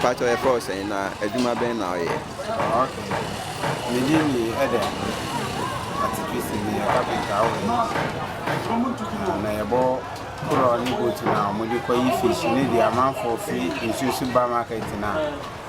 Mpatsɔ yɛ fɛ ɔsɛn na adwuma bɛn na ɔyɛ. Mede ni ɛdɛ atikisi ni kapita awo na yɛbɔ korɔ ne boat na wɔde kɔ yi fish ne deɛ amanfoɔ fi nsuo so ba market na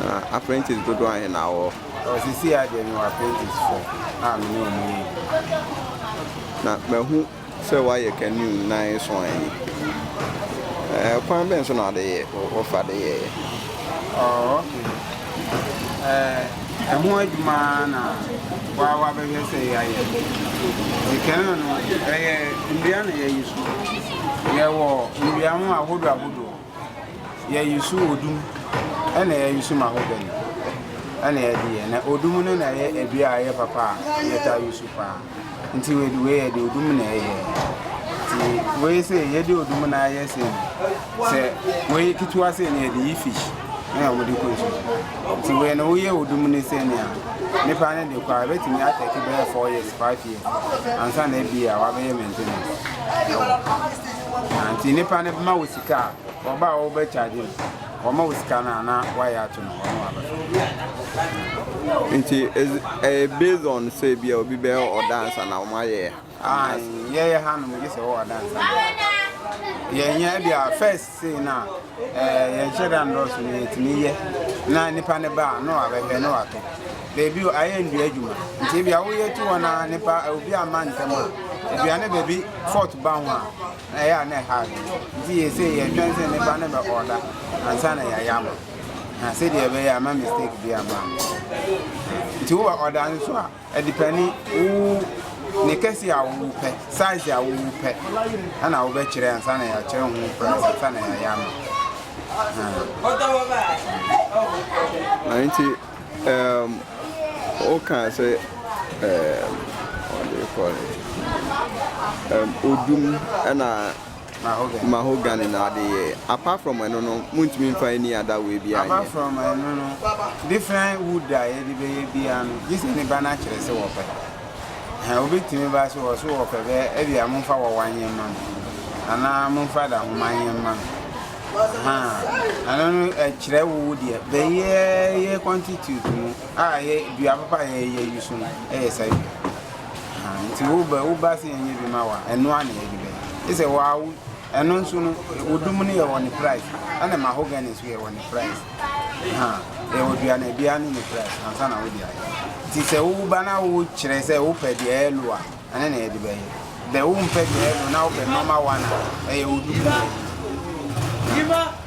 Na apprentice dodoɔ ahe na wɔ? Ɔ sisi a deɛ mewɔ apprentice four a me ne wɔn yɛ adwuma. Na mahu sɛ woayɛ canoe nan nson yi. Ɛɛ kwan bɛn so na ade yɛ wofa de yɛɛ? Oh, okay. Ɛɛ ɛho adwuma na wa wa bɛhwɛ sɛ yɛayɛ. Ti canoe no ɛyɛ nnua na yɛyi so. Yɛwɔ nnua ho ahodoɔ ahodoɔ. Yɛ yusu odum ɛna yɛ yusu mahogany ɛna yɛ de yɛ na odum no na yɛ adua a ɛyɛ papa a yɛ ta yusu paa nti wei wei yɛ de odum na ɛyɛ ti wei sɛ yɛ de odum na ayɛ sɛ sɛ wei ketewa sɛ na yɛ de yi fish ɛna wɔn de kɔ nsu nti wei na woyɛ odum ne sɛ nea nipa ne de kɔ a ebetumi atɛki bɛyɛ four years five years ansa na ebi a wabɛyɛ maintenance ɛwɔ. Na nti nipa no bɛma wo sika a ɔba a wɔbɛ charge no wɔma wo sika no a na wayɛ ato no hɔ no abɛfa. Nti ɛyɛ based on sɛ bi a obi bɛyɛ ɔdansa na wɔn ayɛ. Ah, yɛyɛ ha no mo gye sɛ ɔwɔ ɔdansa. Yɛnyɛ bi a first say na. Yɛnhyɛ da nnɔɔso na yɛtumi yɛ na nipa no ba a na wabɛhwɛ na watɔ. Baabi o ayɛ nnua adwuma nti ebi a woyɛ tu hɔ na nipa obi ama ntɛm a aduane baabi fɔt ba ho a ɛyɛ a na ɛha nti yɛ sɛ yɛtwɛn sɛ nipa no bɛ ɔda ansa na yɛayɛ ama na sɛdeɛ ɛbɛyɛ ama mistake bi ama nti wowɔ ɔda nso a Adipani, wo ne kɛse a wo pɛ, size a wo pɛ, ɛna wo bɛ kyerɛ ansa na yɛ kyerɛ ho price ansa na yɛ yɛ ama. Na nti, um, o kan se, um, what do you call it? Um, odum ɛna. mahogany na ɔde yɛɛ apart from ɛno no montumi nfa any other way biaa nyɛ. Apart from ɛno no different wood a yɛde bɛyɛ biaa no gye sɛ nipa no akyerɛ sɛ wɔpɛ ɛhɛn obi tumi ba so wɔ so wɔpɛ bɛ ɛbia momfa wɔwa nyɛ mma me anaa momfa dahoma nyɛ mma me ɛhɛn ɛno no ɛkyerɛ wo wo deɛ bɛyɛ yɛ constitute no a yɛ dua papa yɛ yɛ yi so no ɛyɛ saa dua. Ahaa nti wo ba wo ba sɛ yɛnyɛ bi ma wo a ɛno ara na yɛde bɛyɛ gye sɛ wo ara wo ɛno nso no wo dum no yɛ wɔ ne price ɛna mahogany nso yɛ wɔ ne price ahaa yɛ wɔ dua no biara ne ne price ansa na wode ayɛ nti sɛ wo ba na wo kyerɛ sɛ wo pɛ deɛ ɛyɛ low a ɛne na yɛde bɛyɛ bɛ wo mpɛ deɛ ɛyɛ low na wo pɛ normal one a ɛyɛ wo dum no yɛ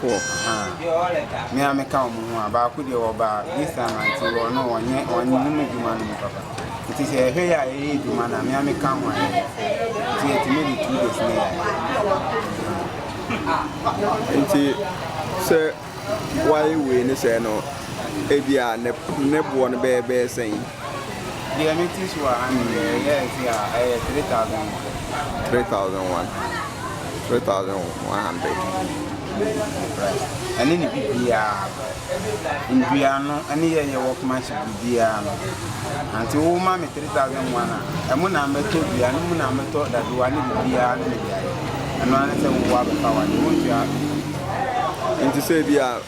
Four, aah. Me ara meka wɔn ho a, baako deɛ ɔbaa this time a nti ɔno ɔnyɛ ɔnnom adwuma no mu papa. Nti sɛ yɛhwɛ yɛ a yɛyɛ adwuma no a, me ara meka ho a yɛyɛ. Nti yɛtumi de two days na yɛayɛ. Nti sɛ woayɛ wei ne sɛɛ no, ebia ne ne boɔ no bɛyɛ bɛyɛ sɛn? Deɛ mete so wɔ ha no deɛ, ɛyɛ ɛse a, ɛyɛ three thousand one. Three thousand one, three thousand one hundred. Ɛne ne bibiara, nnuano ɛne yɛ yɛ wɔkoma hyɛ bibiara no. Nti wo ma me three thousand one a, ɛmu na mɛtɔ dua, no mu na mɛtɔ dadoa ne bibiara ne mede ayɛ. Ɛno ara ne sɛ wo abɛfa wade, wo ntua. Nti sɛ ebi a,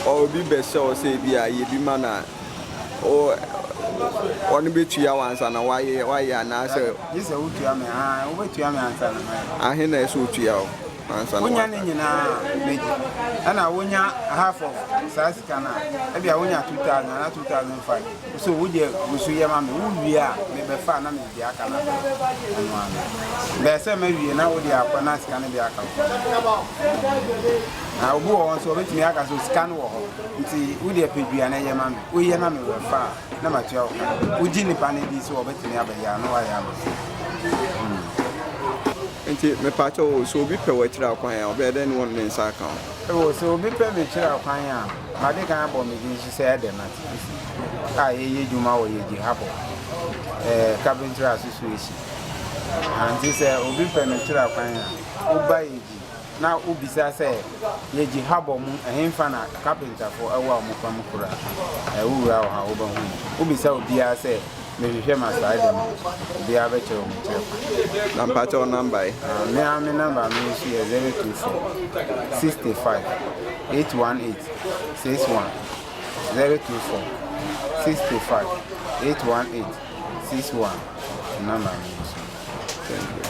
obi bɛhyɛ wo sɛ ebi a yɛ bi ma no a. wo wɔn bɛtua wo ansa na woayɛ woayɛ anaasɛ. Gye sɛ wotua me aa wobɛtua me ansa na mayɛ. Ahe na ɛsɛ otua wo ansa na. Wonya ne nyinaa mɛgye ɛna wonya half of saa sika no a ɛbia wonya 2000 anaa 2005 so wogye gusu yɛ ma me wowie a mebɛfa na mede deɛ aka no abrɛ ɛno ara no bɛɛ sɛ mawie na wode akɔ na sika no deɛ aka wo. Na obi wɔ hɔ nso ɔbɛtumi aka sɛ sika no wɔ hɔ nti wodeɛ pɛ dua no ɛyɛ ma me woyɛ na me wɛ fa a na matua wo ka wogye nipa no di sɛ ɔbɛtumi abɛyɛ a na wayɛ ama hmm. nti mepaakyɛ o sɛ obi pɛ wɔakyiri akwan a ɔbɛyɛ dɛn ne wɔn ne nsa aka o sɛ obi pɛ mekyiri akwan a made kan abɔ me din so sɛ ɛdɛ nate a yɛyɛ adwuma wɔ yɛgye ha bɔ eh, carpenter association nti sɛ obi pɛ mekyiri akwan a woba yɛgye na wobisa sɛ, Yegye habɔ mu, ɛhefa na kapentafo wɔ a wɔfa mu kora? Ɛɛ, wowura hɔ a, wobɛhu no. Wobisa obiara sɛ, Mehwehwɛ m'asaade mu a, obiara bɛkyerɛ wo me kyerɛkwan. Na mpakyɛ wo namba ɛ? Ah, me ara me namba me nso yɛ zero two four, sixty five, eight one eight, six one, zero two four, sixty five, eight one eight, six one, namba me nso.